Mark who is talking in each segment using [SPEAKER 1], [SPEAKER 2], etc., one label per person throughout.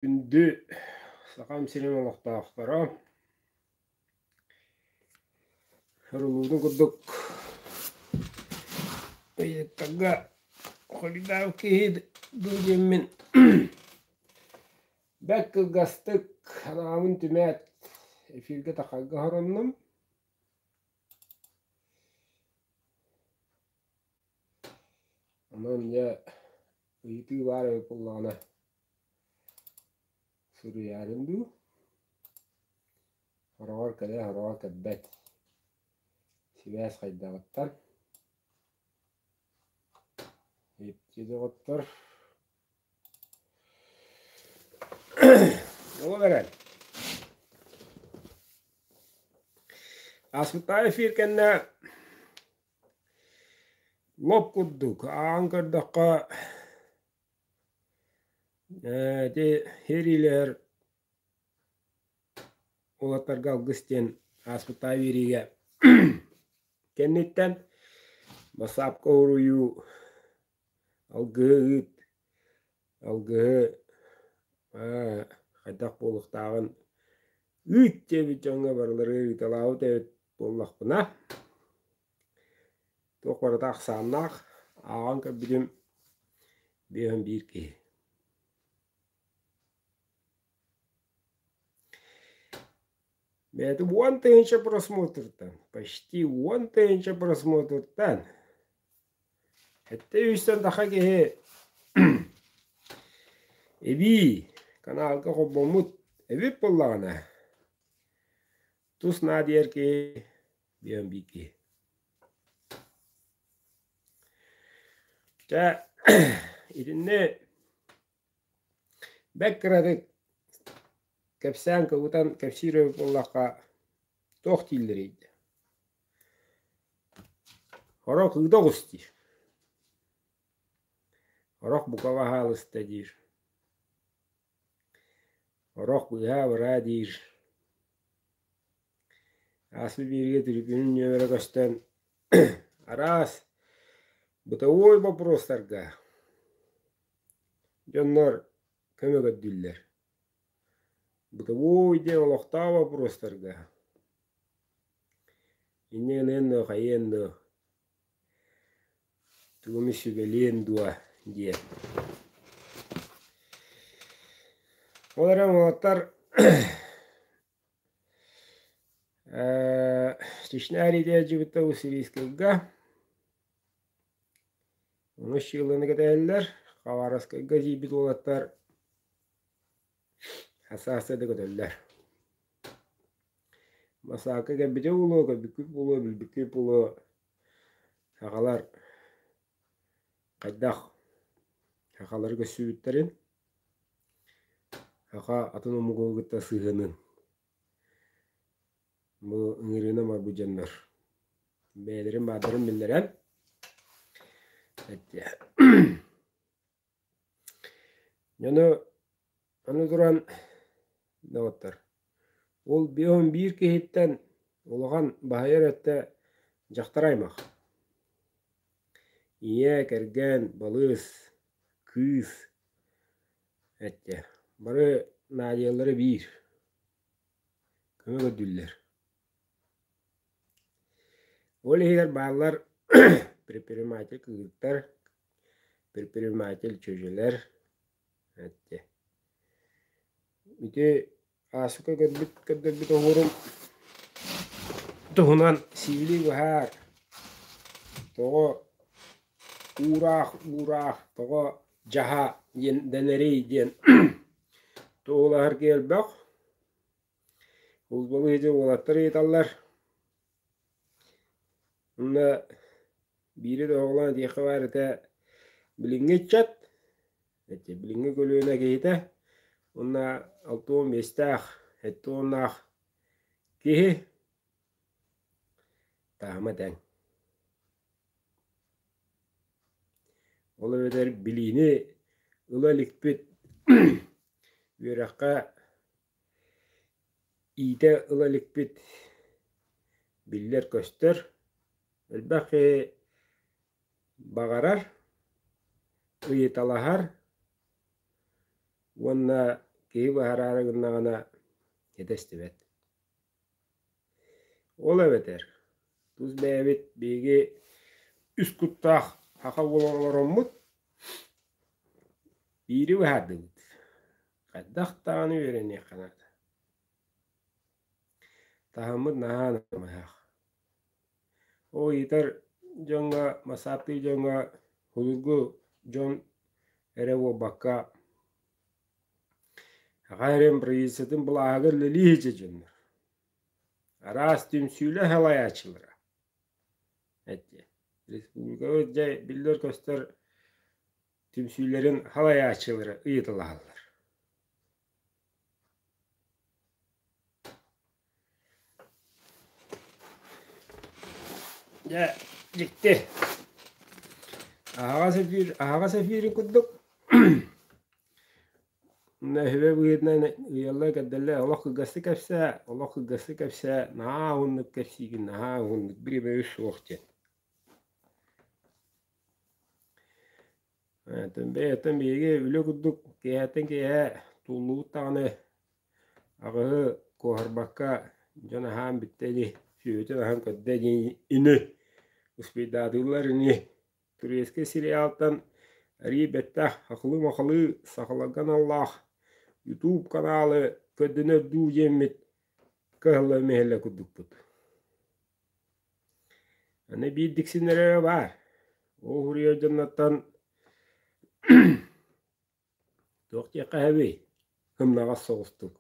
[SPEAKER 1] Күндү Сахам сирин олохтоохторо, Рулуутун курдук ыйыттарга холидаав киһи дуу диэммин бэрт кылгастык анаабын түмээт эфиргэ тахарга хороннум. Онон дьэ ыйытыы баар эбит буоллаҕына Суруйаарым дуу, хороҕор кэлэ хороҕор кэлбэт. Сибээс хайдаҕыттан ипти доҕоттор оҕо баран Аспытаев эфир кэннэ лоп курдук ааҕан көрдөххө Ити ириилэр уолаттарга алгыс диэн ааспыттаа биэриигэ кэнниттэн бассаапка уруйуу алгыһыт алгыһы хайдах буолуохтааҕын үүт диэбит дьоҥҥо барылары ыйыталаабыт эбит буоллахпына Туох барыта ахсааннаах, ааҕан көрбүтүм биһиэхэ биир киһи бэйэтэ уон тыһыынча просмотртан почти уон тыһыынча просмотртан сэттэ үстэн саха киһи эбии канаалга холбоммут эбиппин даҕаны тус наадыйар киһи диэн биики. Чэ, итинни бэк кыратык кэпсээн кыбытан кэпсиир эбит буоллахха, туох дииллэрий? Хорох ыда оҕус диир. Хорох бука ваһаалыста диир. Орох быһаа-быраа диир, ааспыт бииргэ түркүнүн нүөмэрэ көстөн араас бытовой боппуруостарга дьоннор көмө көрдүүллэр. Бытовой диэн олохтоох боппуруостарга иннигинээннөө хайыанныы Тугуми сүбэлиэн дуо диэ. Ол эрэн уолаттар Чечня иитээччибиттэн бу сирийскайга онус чыылланы кэтэһэллэр. Хабаровскайга тиийбит уолаттар Саасса да көтөллөр. Массаакка кэлбитим буолуо, көрбүккүт буолуо, билбиккит буолуо, сахалар хайдах сахалары көрсүбүттэрин, саха атын омугу кытта сыһыанын бу ыҥырыынан барбыт дьоннор бэйэлэрин баардарын биллэрэн эттиэ Аны аны туран доҕоттор, ол он биир киһиттэн улахан баһыйар эртэ дьахтар аймах. Ийэ, кэргэн, балыыс, кыыс эттэ. Бары наадыйаллара биир. көмө көрдүллэр Ол иһигэр бааллар предприниматель кыргыттар, предприниматель чөчүлэр, эттэ. Ити аасыка көрбүт көрдөрбүт оһуорум туһунан сиили быһаар, тоҕо уураах уураах, тоҕо дьаһа диэн дэнэрий диэн туһулаһарга элбэх. Узбалым иһити уолаттар ыйыталлар. Уонна биири да оһоҕолоон этиэххэ баар этэ билиҥҥи ыччат, эчи билиҥҥи көлүөнэ киһитэ уонна алта уон биэстээх, сэттэ уоннаах киһи таама тэҥ. Ол эбэтэр билиини ыла иликпит үөрэххэ Иитэ ыла иликпит биллэр-көстөр, элбэх киһи баҕарар, ыйыталаһар уонна киһи быһараары гыннаҕына итэстибэт Ол эбэтэр, тус бэйэбит биһиги үс куттаах саха буолан олороммут, биири быһаардыбыт. Хайдах даҕаны үөрэниэххэ наада. Таһыммыт наһаа намыһах. Ол ыйытар дьоҥҥо, масааттыыр дьоҥҥо, судургу дьон эрэ буолбакка, Аҕа эрээм бырайыассатын былааһыгар үлэлии сылдьар дьоннор араас түмсүүлэр салайааччылара эти республикаҕа дьэ биллэр-көстөр түмсүүлэрин салайааччылара ыйыталаһаллар Дьэ, дьикти. Аһаҕас эфир, аһаҕас эфири курдук нэһилэ быһыытынан ыйалла кэрдэллэ олох кылгастык кэпсээ, олох кылгастык кэпсээ, наһаа уһуннук кэпсиигин, наһаа уһуннук, бири-бири суох диэн. Атын бэйэттэн биһиги үлэ курдук киэһэттэн киэһэ туллубут даҕаны аҕыһы куоһарбакка дьон аһаан бүттэ ини сүөһүтүн аһан көрдө ини ини успейдаатыыллар ини туристскай сериалтан арии бэттэх ахылыы-махалыы сахаларга аналлаах ютуб каналы көрдөнөр дуу диэммит кыһалла-мэһэллэ курдукпут Аны биир диксиннэр эрэ баар. Ол уһуруйар дьоннортон туох диэххэ сөбүй? Ымнаҕас соҕустук.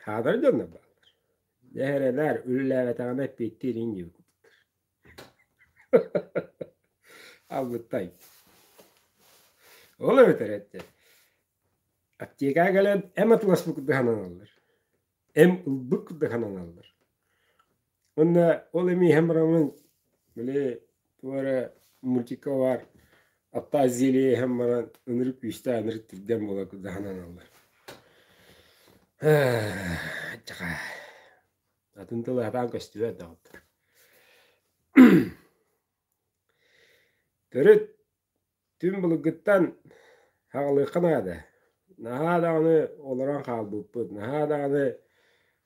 [SPEAKER 1] Хаалар дьоннор бааллар. Дэһэрэлэр, үлэлээбэтэҕинэ эппиэттиир инь диэбиппиттэр. Албыттай. Ол эбэтэр эттэ аптекаҕа кэлэн эм атыласпыт курдук сананаллар. эм ылбык да сананаллар. Уонна ол эми иһэн барамын били тугу эрэ мультика бар атта зеле иһэн баран ынырык күүстээх ынырык тирдэн буола курда сананаллар. Чаха атын тылы хатаан көстүбэт да Төрүт Түҥ былыргыттан хаҕылыахха наада. Наһаа даҕаны олорон хаалбыппыт, наһаа даҕаны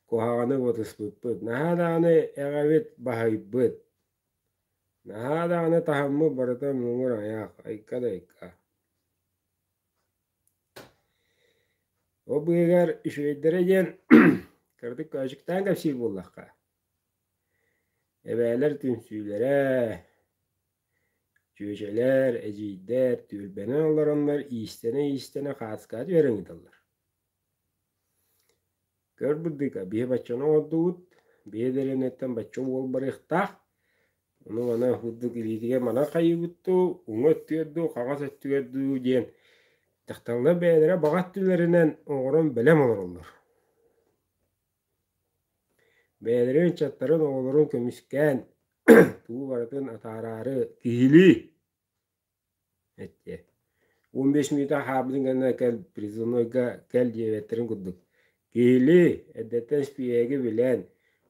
[SPEAKER 1] куһаҕаны вытыспыппыт, наһаа даҕаны эҕэбит баһыйбыт. Наһаа даҕаны таһыммыт барыта муҥур айаах, айка да айка. Ол быыһыгар үчүгэйдэрэ диэн кыратык көөчүктээн кэпсиир буоллахха, эбээлэр түмсүүлэрэ, Чүөчэлэр, эдьиийдэр түөлбэнэн олороннор иистэнэ-иистэнэ хааскаат үөрэн ыыталлар Көр бырдыка, биһи баччаны оҥордубут, биһи дэлэниттэн бачча уол барыахтаах, ону маны курдук илиитигэр манан хайыыбыт дуу, уҥа өттүгэр дуу, хаҥас өттүгэр дуу диэн дьахталлар бэйэлэрэ баҕа өттүлэринэн оҥорон бэлэм олороллор Бэйэлэрин ыччаттарын, оҕолорун көмүскээн туу барытын атаараары киһилии эттиэ. Он беш минута хаабытын гэнна кэл призывнойга кэл диэбэттэрин курдук. Киһилии эрдэттэн спиэги билэн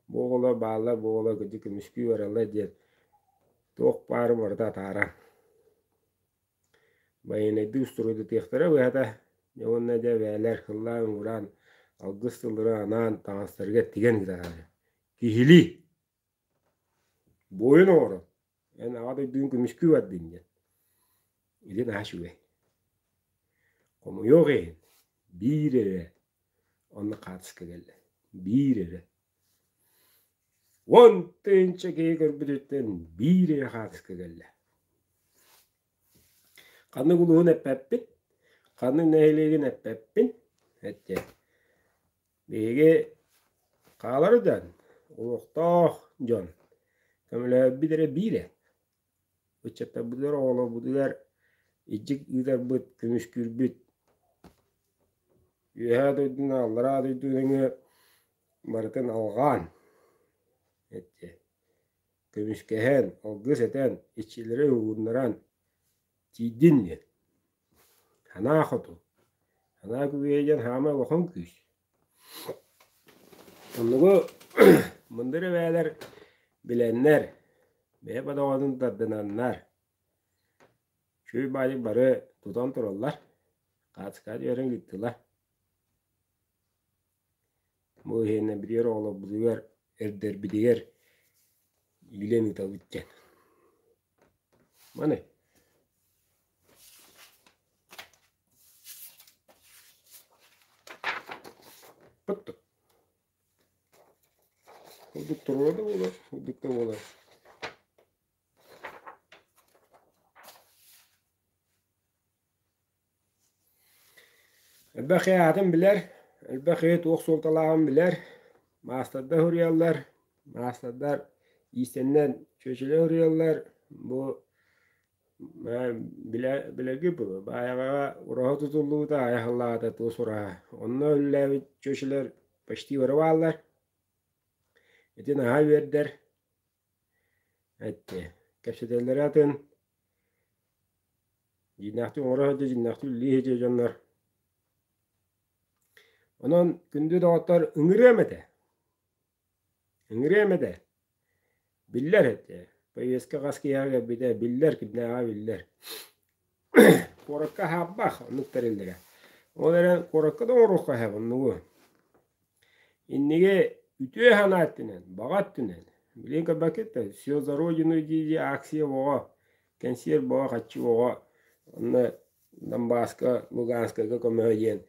[SPEAKER 1] бу оҕолор бааллар, бу оҕолор кырдьык көмүскүү бараллар диэн туох баарын барыта атаара. байыаннайдыы устуруйдатыахтара быһата дьэ уонна дьэ бээлэр кыллаан уураан алгыс тыллары анаан таҥастарыгар тигэн ыытаары киһилии буойун оҕоро эн аҕа дойдугун көмүскүү бардын диэн илин аас үбэй хомуйуох иһин биир эрэ онно хаартыска кэллэ биир эрэ Уон тыынча киһи көрбүтүттэн биир эйэ хаартыска кэллэ. Ханнык улууһун эппэппин, ханнык нэһилиэгин эппэппин, эттэ. Биһиги хаалары дьон, олохтоох дьон көмөлөһөрбүт эрэ биир эп. Ыччаттарбытыгар, оҕолорбутугар иччик ыытарбыт, көмүскүүрбүт. Үөһээ дойдуну, аллараа дойду нөҥүө барытын алҕаан, көмүскэһэн, алгыс этэн, иччилэри угуннаран тиийдин диэн. Санаа хоту, санаа күбүһэ диэн хаамай улахан күүс. Оннугу мындыр эбээлэр билэннэр, бэйэ бодоҕотун тардынаннар, чуй баайык бары тутан тураллар, хаачыкаат үөрэн ыыттылар. Бу иһинэ билэр оҕолорбутугар, эрдэрбитигэр иилэн ыытабыт диэн. Маны Пыттык. Курдук туруга да буолар, курдук да буолар. Элбэх айаатын билэр, элбэх ийэ туох суолталааҕын билэр, маастардар уруйаллар, маастардар иистэннэн чүөчүлэ уруйаллар, бу билэргит буолуо, баайаҕаҕа ураһа тутуллубута, айаһыллаҕата туос ураһа. Онно үлэлээбит чүөчүлэр почти барыбааллар. Ити наһаа үөрдэр. эттиэ кэпсэтэллэрэ атын дьиnnээхтик оҥоро сылдьа дьиnnээхтик үлэлии сылдьар дьоннор онон күндү доҕоттор ыҥырыам этэ ыҥырыам этэ биллэр этэ повестка хас киһиэхэ кэлбитэ биллэр кимнээҕэ биллэр Куоракка аһаабах оннук тэриллэрэ. Ол эрэн куоракка да оҥоруохха иһэ муннугу. Инники үтүө санаа өттүнэн, баҕа өттүнэн, билигин көрбөккүттэн «Все за родину» дии-дии акция оҕо, кэнсиэр бөҕө хаччы оҕо онно Донбасска, Луганскайга көмөҕө диэн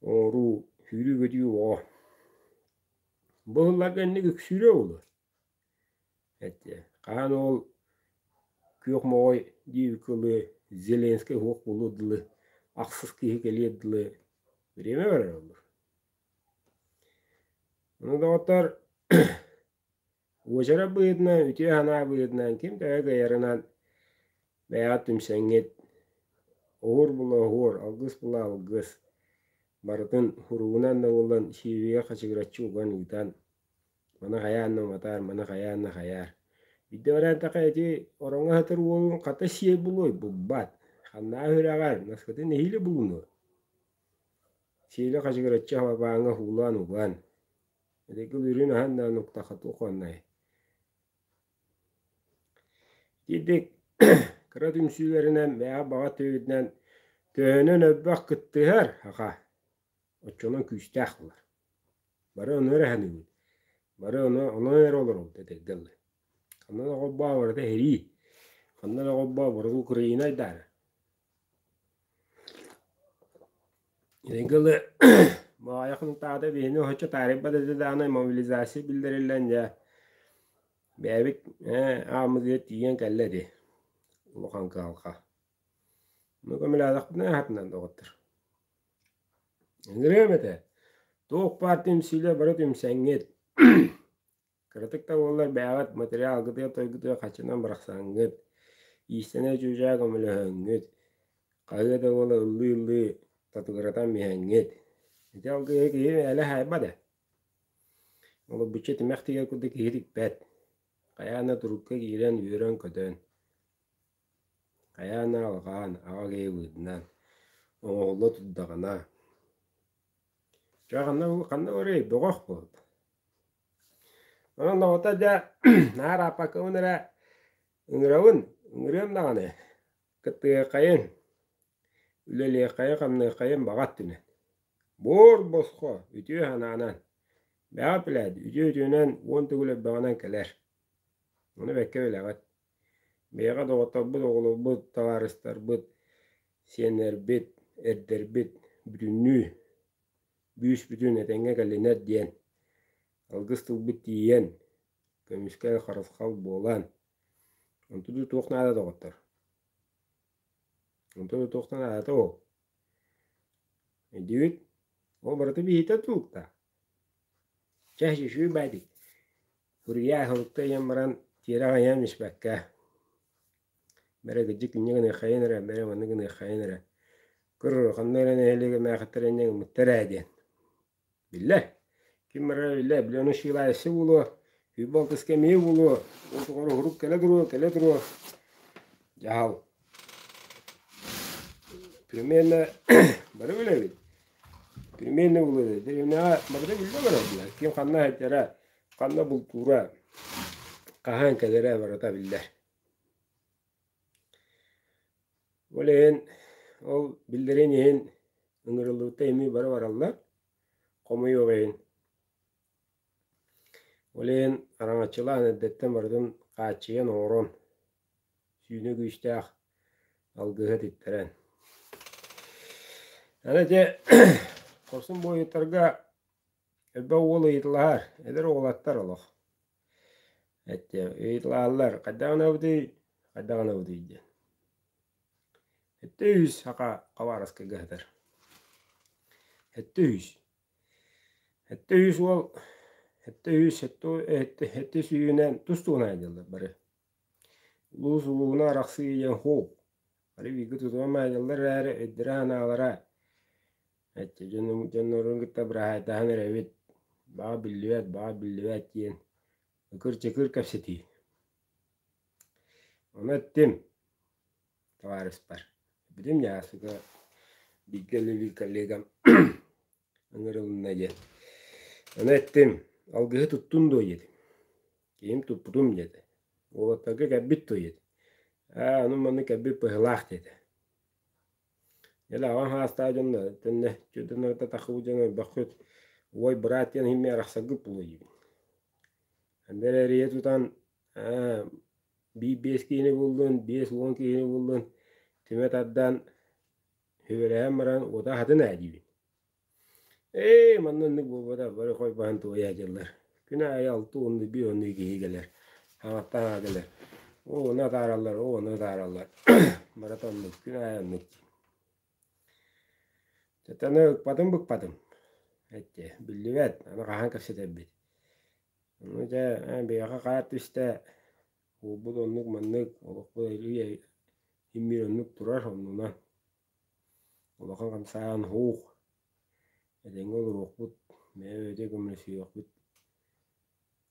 [SPEAKER 1] оҥоруу, сүүрүү-көтүү оҕо. Бу сылларга инник үксүүрэ буолуо. этэ хаһан ол күөх моҕой диэби кылы зеленскэй уһук булу дылы ахсыс киһи кэлиэр дылы время барар буоллар ну доҕоттор уочарат быһыытынан үтүө санаа быһыытынан ким төһө кыайарынан бэйэҕит түмсэҥҥит оһуор булаоһуор алгыс була алгыс барытын уругунан да буоллан сиэбигэ хачыгыраччы уган ыытан Маны хайаан да уматаар, маны хайаан да хайаар. Бирдэ баран таха ити ороҥҥо сытар уолуҥ хата сиэй булуой булбат. Ханнаа үрэҕэр наскытын нэһиилэ булунуо. Сиэлэ хачыгыраччы хабабааҥҥа уулаан уган, эдэркил үрүн аһан да нуктаха туох уоннай. Итиитик кыра түмсүүлэринэн, бэйэҕэ баҕа төйүтүнэн төһөнөн өлбөх кыттыһар, аха. Оччонон күүстээх буолар. Бары ону эрэ саныыбын. Бары ону онон эрэ олоробут этэргэ дылы. Ханна да холбоо барыта иһирии. Ханна да холбоо барыта Украина айдаана. Этэргэ дылы Маайа хонтаата биһини оччо таарыйбат этэ дааны мобилизация биллэриллэн дьэ бэйэбит ааммытыгар тиийэн кэллэ ити улахан кыһалҕа. Ону көмөлөөхтөхпүнэ аатынан доҕоттор Ырыам этэ. Туох баар түмсүүлэр бары түмсэҥҥит. Кыратык да буоллар бэйэҕит материал-кытыа-тойгутуа хаччынан барахсаҥҥыт. Иистэнэ-чуучаа көмөлөһөҥҥүт. Хаһыа да буола ыллыы-ыллыы татыгыратан иһэҥҥит. Ити алгыһы киһи мээлэ хаайба да. Олох биччэ тимэх тигэр курдук киһи тикпэт. Хайаан да турукка киирэн, үөрэн-көтөн. Хайаан эрэ алҕаан, аҕа киһи быыһынан оҥоһулла турдаҕына: «Чэ, ханна ханна барыай, бөҕөх буол». Онон доҕото, дьэ, наар Ааппакабын эрэ ыҥырабын, ыҥырыам даҕаны, кыттыһыаххайын, үлэлиэххэйин-хамныаххайын баҕа өттүнэн. Буор босхо, үтүө санаанан, бэҕэ эпилээт, үтүө-үтүөнэн уон төгүл өрбөҕүнэн кэлэр. Ону бэккэ билэҕит. Бэйэҕэ доҕотторбут, оҕолорбут, табаарыстарбыт, сиэннэрбит, эрдэрбит бүтүннүү бүүс-бүтүн этэҥҥэ кэлинэр диэн алгыс тылбыт тиийэн, көмүскэл, харысхал буолан, онтубут туох наада доҕоттор? Онтубут туохта наадата ол? Өйдүүгүт? Ол барыта биһиттэр тулуктаах. Чэ, сүүсүү баайдык, уруйаа аһылыкта ыйан баран тиэрэх айаан испэккэ, бэрэ кырдьык инньэ гыныаххайын эрэ, бэрэ маннык гыныаххайын эрэ, көр улаханна эрэ нэһилиэгэ эмээхиттэр инньэ гыммыттар ээ диэн. Биллэр, ким барара биллэр, били ону сыылаайысы буолуо Күүбалтыска эмиэ буолуо. Ол тухары уһурук кэлэ туруо, кэлэ туруо. Дьаһал. Пельменэ бары билэбит. Пельмени булуода. Деревняга барыта билбэ бараллар. Ким ханна иһиттэрэ, ханна бултуура, хаһан кэлэрэ барыта биллэр. Ол иһин ол биллэрин иһин ыҥырыллыбыта эми бары бараллар. Хомуйуох иһин. Ол иһин араҥаччылаан эрдэттэн барытын хааччыйан оҥорон, сүүнэ күүстээх алгыһы типтэрэн. Аны ити хорсун буойуттарга элбэх уол ыйытылаһар, эдэр уолаттар олох эттэ ыйытылаһаллар, хайдах гынабытый, хайдах гынабытый диэн. Эттэ үһүс, саха хабаараскайга сытар. Эттэ үһүс. Сэттэ үһүс уол сэттэ үһүс сэттэ сүүһүнэн тустууна айдьаллар бары улуус улууһуна арахсыы диэн ХУУ бары бииргэ тутуһан айдьаллар эрээри өйдөрө санаалара эчи дьоннорун кытта быраһаайтаһан эрэбит баҕа биллибэт баҕа биллибэт диэн ыкыр-чыкыр кэпсэтии ону эттим табаарыспар Бүтүм Ньаасыга бииргэ үлэлиир коллегам ыҥырылынна диэн аны эттим алгыһы туттун дуо диэтим киһим туппутум диэтэ уолаттарга кэлбит дуо диэтим ээ аны маннык кэлбит быһыылаах диэтэ дьэ аҕам саастаах дьон да төннө төннөрө тахсыбыт дьон ойбоххут уой быраат диэн иһин мин арахсаргыт буолуо диибин анда эрэ эрийэ тутан Ээ, биир биэс киһини буллун, биэс уон киһини буллун, түмэ тардан, сүбэлэһэн баран, уота аһатын ээ диибин. Ээ, манна оннук буолбатах, бары хой баһан туойа садьыллар. Күн аайы алты уонна биир уоннуу киһи кэлэр, аҥаттан аҕа кэлэр. Ол уону атаараллар, ол уону атаараллар. Барыта оннук, күн аайы оннук дии. Ытыны ыкпатым-быкпатым. Эттэ, биллибэт, аны хаһан кэпсэтэрбит. Ону дьэ ээ биһиэхэ хаар түстэ, уурбут оннук маннык, олохпут эйэ иһимиир оннук турар оннуна. Улахан хамсааһын һуух, этэҥҥэ олоруохпут, бэйэ-бэйэтэ көмөлөсүһүөхпүт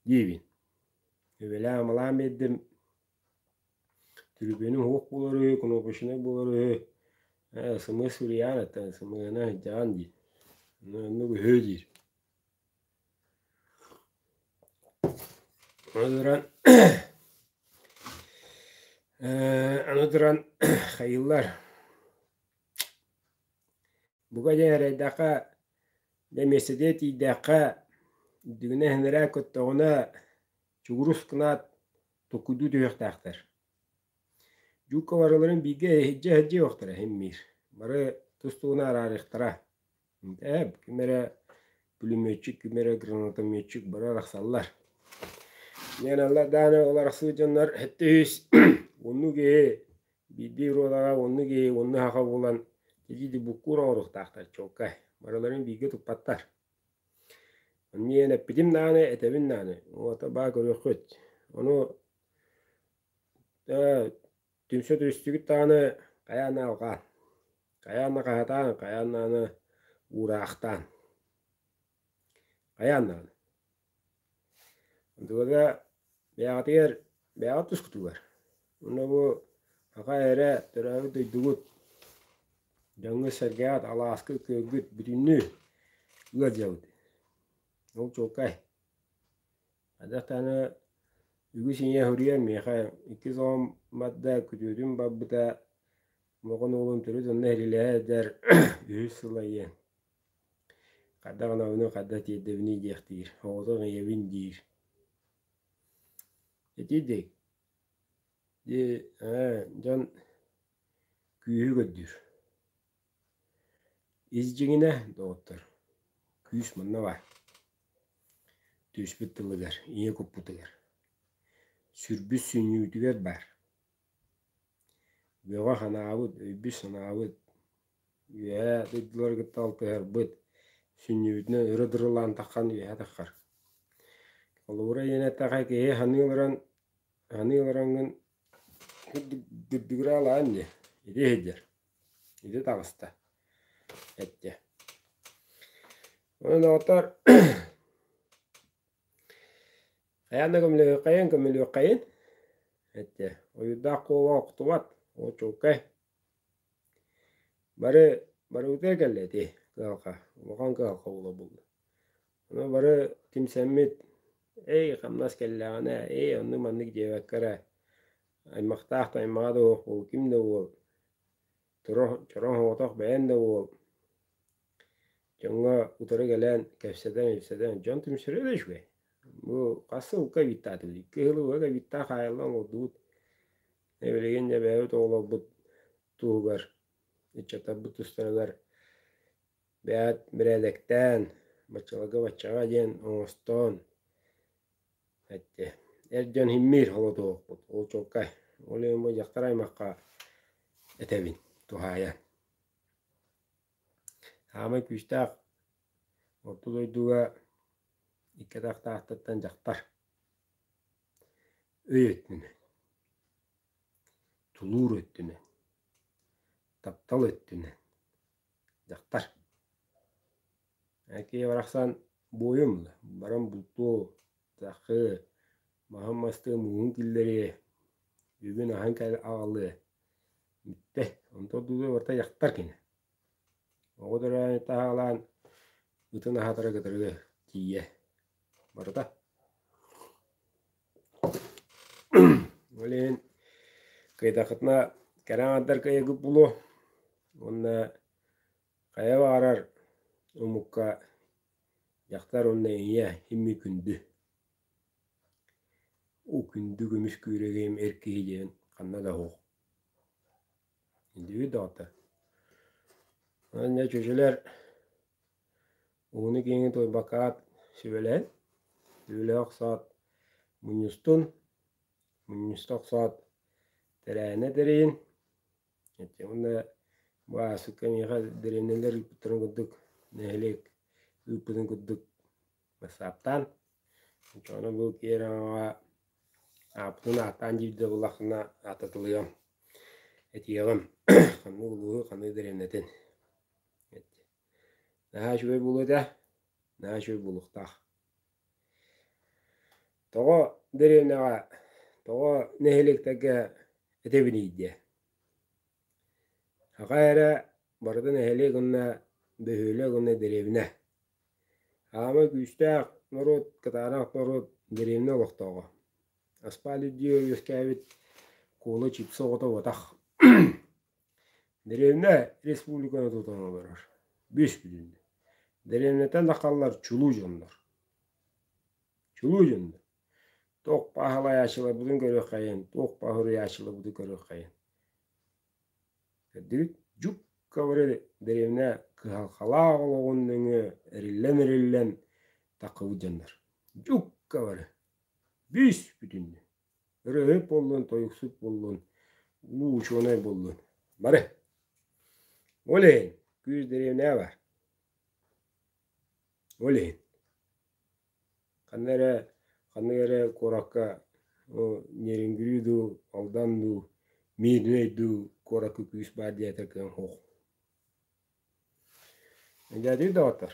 [SPEAKER 1] диибин. Эбэлээн-амалаан биэрдим, түрүпүөнү һуух буолар үһү, кнопочнай буолар үһү, ээ СМС суруйаан, оттон СМС-ны сылдьаҕын дии, онно оннук үһүө диир Ол туран аны туран хайыыллар бука диэн эрэйдэххэ дьэ миэстэтигэр тиийдэххэ үрдүгүнэ иһинэрэ көттөҕүнэ чугурус гынаат туккуйдуу түһүөхтээхтэр дьуукка барыларын бииргэ иһирдьэ иһирдьэ иһиэхтэрэ иһиммиир бары тус-туһуна араарыахтара Ээ, ким эрэ пулеметчик, ким эрэ гранатометчик бара арахсаллар. Леналар даҕаны ол арахсыбыт дьоннор сэттис оннук киһи биирдии ролаҕа оннук киһи онну саха буолан итиити буккуур оҥоруохтаахтар чуолкай. Барыларын бииргэ туппаттар. Ниэн эппитим даҕаны, этэбин даҕаны. Уота баа көрүөххүт. Ону Түмсэ түстүгүт даҕаны хайаан алҕаан, хайаан накаһатаан, хайаан даҕаны уураахтаан. Хайаан даҕаны. Онтубата бэйэҕитигэр бэйэҕит тускутугар. Онно бу аха эрэ төрөөбүт дойдугут дьоҥҥут-сэргэҕит алааскыт, күөггүт бүтүннүү ыалдьабыт. Ол чуолкай. Хайдах даҕаны үгүс ийэ суруйар миэхэ иккис оҕом барда, күтүөтүм барбыта, оҕон уолум төрүт онно иһилилэһэрдэр үһүс сыл айыан. Хайдах ынабыны, хайдах тиэрдэбиний диэхтиир, оҕотун ийэбин диир. Итиитик дьон күүһү көрдүүр. Ис дьиҥинэ, доҕоттор, күүс манна баар. Түспүт тылыгар, ийэ куппутугар. Сүрбүс сүнньүүтүгэр баар. Бөҕө-ханаабыт, өйбүт-санаабыт, үөһээ дойдулары кытта алтыһарбыт, сүнньүбүтүнэн өрө дырылаан таххан үөһэ таххар. Холобура, ийэн эттэххэ, киһи саныы олорон, саныы олороҥҥун курдук дырдыгыраалаан дии, ити иһирдьэр. Ити таҕыста. Эттэ. Доҕоттор хайаан да көмөлүөххэйин, көмөлүөххэйин эттэ. Ойуурдаах куола охтубат, очулкай. Бары барыбытыгар кэллэ ити кыһалҕа. Улахан кыһалҕа буола булла. Аны бары кимсэммит, "Эй, хамнас кэллэҕинэ, эй, оннук-маннык диэбэккэ эрэ Аймахтаах да аймаҕа да уох, ол ким да уол, чороҥ чороҥ оҕотох бэйэм да уол, дьоҥҥо утары кэлэн кэпсэтэн-ипсэтэн дьон түмсэрэ да үчүгэй. Бу хас сылга кэбиттээт икки кыһыл убайга кэбиттээт хаайылла оҥордубут. Билигин дьэ бэйэбит оҕолорбут туһугар, ыччаттарбыт тустарыгар бэйэт бэрээдэктээн, баччаларга баччаҕа диэн оҥостоон Эттэ, эр дьон иһиммиир холодуохпут, ол чуолкай, ол иһин бу дьахтар аймахха этэбин туһаайан. Саамай күүстээх орто дойдуга икки атахтаахтартан дьахтар өй өттүнэн, тулуур өттүнэн, таптал өттүнэн Дьахтар икки барахсан буойум баран бултуу тахыы маһын мастыы мууһун киллэрии бүгүн аһан кэл аҕалыы бүттэ онтон дуу барыта дьахтар кини оҕо төрөөн таһаалаан ытын аһатары кытары тиийэ Барыта. Ол иһин кыйдахытына кэрэ аҥардар кыайыгыт буолуо уонна хайа баҕарар омукка дьахтар уонна ийэ имми күндү. Уу күндү көмүс күрэгим эр киһи диэн ханна да оһуох. Илдьибит доҕоттор. Аны чочулар Ууну киэҥи туойбаккаат сүбэлээн, сүбэлэһэ охсоот мунньустун, мунньуста охсоот тэрээһинэ тэрийин, уонна бу ааспыкка миэхэ дэриэбинэлэр ыыппыттарын курдук нэһилиэк ыыппытын курдук бассааптаан, оччоҕуна бу киэр аҥаҕа ааппытын ааттаан диирдэ буоллаххына ааттатылыам, этиэҕим ханнык улууһу, ханнык дэриэбинэтин. Наһаа үчүгэй буолуо этэ, наһаа үчүгэй буолуохтаах. Тоҕо дэриэбинэҕэ, тоҕо нэһилиэктэргэ этэбиний диэ. Аҕа эрэ барыта нэһилиэк уонна бөһүөлэк уонна дэриэбинэ. Хаамай күүстээх норуот, кытаанах норуот дэриэбинэ олохтооҕо. Аспаал үрдүгэр үөскээбит куола чипсы оҕото уотах Дэриэбинэ республиканы тутан олорор, бүүс-бүтүн. Дэриэбинэтэ Нахаллар чулуу дьоннор. Чулуу дьоннор. Туох пааһылайаачыларбытын көрүөххэйин, туох пааһуруйаачыларбытын көрүөххэйин. Көрдүгүт? Жукка бары дэриэбинэ кыһалхалаах олоҕун нөҥүө эриллэн-эриллэн таккыбыт дьоннор. Жукка бары. Бүүс-бүтүннүү. Ырыаһыт буоллун, тойуксут буоллун, муу учуонай буоллун. Бары. Олень, күүс дэриэбинэҕэ Олень. Ханна эрэ, ханнык эрэ куоракка нерюнгри дуу, алдан дуу, Мидней дуу куоракка күүс баар диэтэ кыан оһох. Эдьиийдии доҕоттор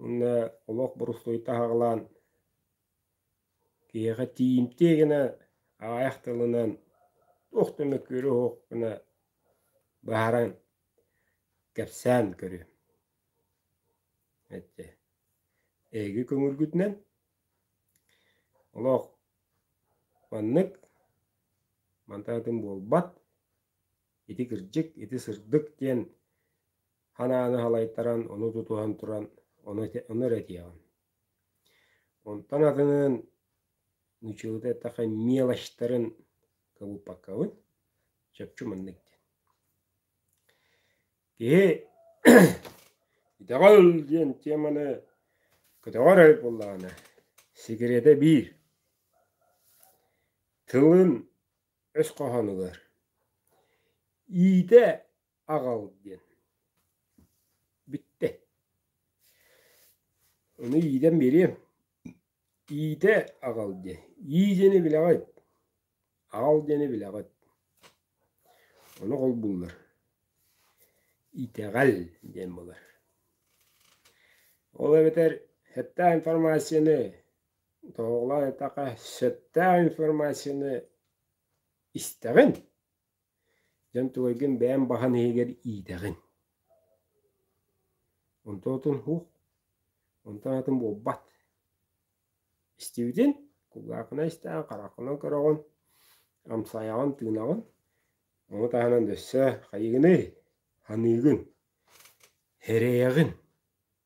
[SPEAKER 1] Уонна олох борустуойта аһаҕалаан киһиэхэ тиийимтиэ гына аҕайах тылынан туох да мөккүөрэ суохпуна быһааран кэпсээн көрүөм эттэ эһиги көҥүлгүтүнэн олох маннык мантан атын буолбат ити кырдьык ити сырдык диэн Ханааны халайтаран ону тутуһан туран ону этиэҕин. Онтон атынын нучылыта эттэхэ мелочтарын кыбыппаккабыт сөпчү маннык диэн. Киһи итэҕэл диэн теманы көтөҕөр эбит буоллаҕына секретэ биир тылын өс хоһоон ылар иитэ аҕал диэн. Бүттэ. Ону иитэн биэриэм. Иитэ аҕал диэн. Ии диэни билэҕит. Аҕал диэни билэҕит. Ону холбууллар. Итэҕэл диэн буолар. Ол эбэтэр хэттээх информацияны тоһоҕолоон эттэххэ сөптөөх информацияны истэҕин Дьэн тугайгын бэйэм баһан иһигэр иитэҕин. Онтоотун ух, онтон атын буолбат. Истибитин, кулгаахына истээн, хараххынан көрөҕүн, амсайаҕын, тыынаҕын, ону таһынан өссө хайыгыный? Саныыгын, эрэйэҕин.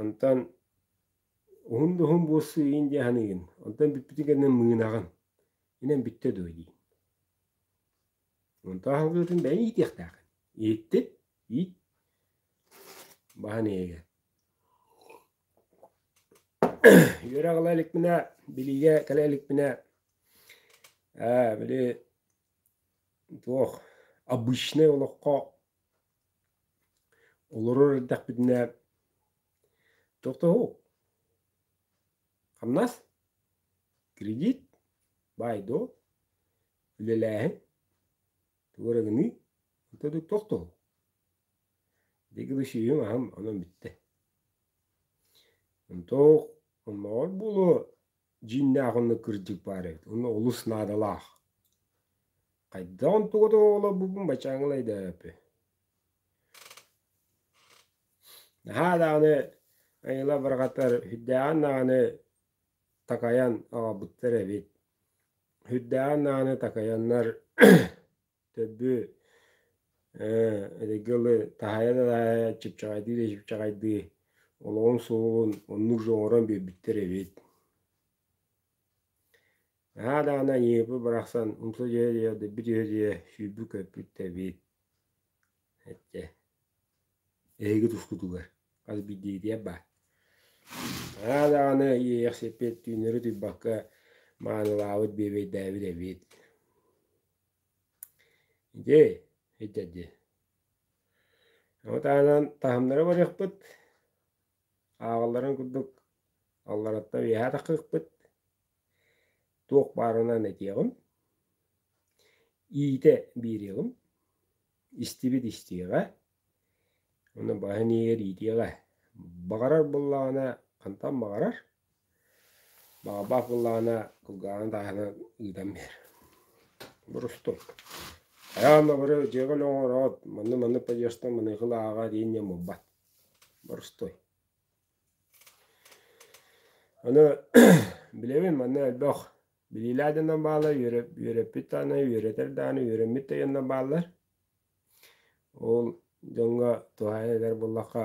[SPEAKER 1] Онтон уһун да уһун буолсуйин дии саныыгын, онтон бүппүтүн кэннэ мыынаҕын, инэн бүттэ дуо дии. Онтон аһылгытын бэйэҥ иитиэхтээххин. Ииттит, иит, баһан иэгэ. Үөрэх ыла иликпинэ, билиигэ кэлэ иликпинэ, ээ били туох обычнай олоххо Олорор эрдэхпитинэ тохтоһуу, хамнас, кредит, баай-дуол, үлэлээһин, тугу эрэ гыныы, ытык тохтоһуу. Дэгилэ сиһим аһым онон бүттэ. Онтон омоҕор буолуо дьииннээх онно кырдьык баар эбит онно олус наадалаах хайдаҕын туга да олорбуппун бачааҥҥын айдаапы наһаа даҕаны айыла барҕатар үрдээҕин даҕаны такайан аҕалбыттар эбит үрдээҕин даҕаны такайаннар Төрбү эдэрги ыалы таһайан таһайан чыпчаҕайдыы да чыпчаҕайдыы олоҕун суолун оннук жоҥорон биэрбиттэр эбит наһаа даҕаны аньыыпы барахсан умса түһэ-түһэ дөббү түһэ-түһэ сүүрбү-көппүт да эбит эчэ эһиги тускутугар хас биирдиитийэ баар наһаа даҕаны иэйэх сиппит түүннэри туйбакка маанылаабыт биэбэйдээбит эбит Дьей, итэ ди. Ону таһынан таһымнары барыахпыт, ааҕалларын курдук аллараттан үөһэ тахыахпыт, туох баарынан этиэҕим, иитэ биэриэҕим, истибит истиэҕэ, ону баһын иһигэр иитиэҕэ. Баҕарар буоллаҕына хантан баҕарар Баҕабаах былаана кулгааҕын тааһына ыытан биэр Борустум Хайаан обуру дьиэҕин оҥороот, манны-манны подъезтан маныакыл ааҕа диин диэн буолбат Борустуй Аны билэбин манна элбэх билиилээх дьоннор бааллар үөрэппит даҕаны үөрэтэр даҕаны үөрэммит да дьоннор бааллар ол дьоҥҥо туһаайан этэр буоллахха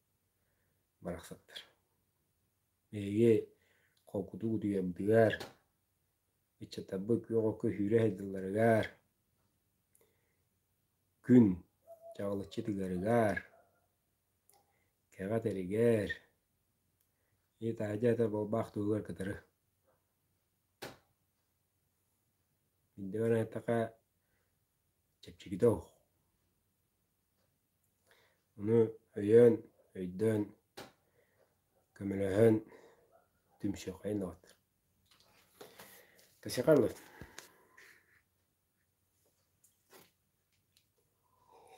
[SPEAKER 1] барахсаттар эһиги холкутук утуйардыгар ыччаттарбыт күөҕэ көһүүрэ сайдылларыгар күн чаҕылыччы тыгарыгар кэҕэ тэригэр ит аһа это буолбаах туһугар кытары чэпчэкитэ оһох. Ону өйөөн, өйдөөн, көмөлөһөн түмсүөххэйин даҕатар. Тасикарлыт.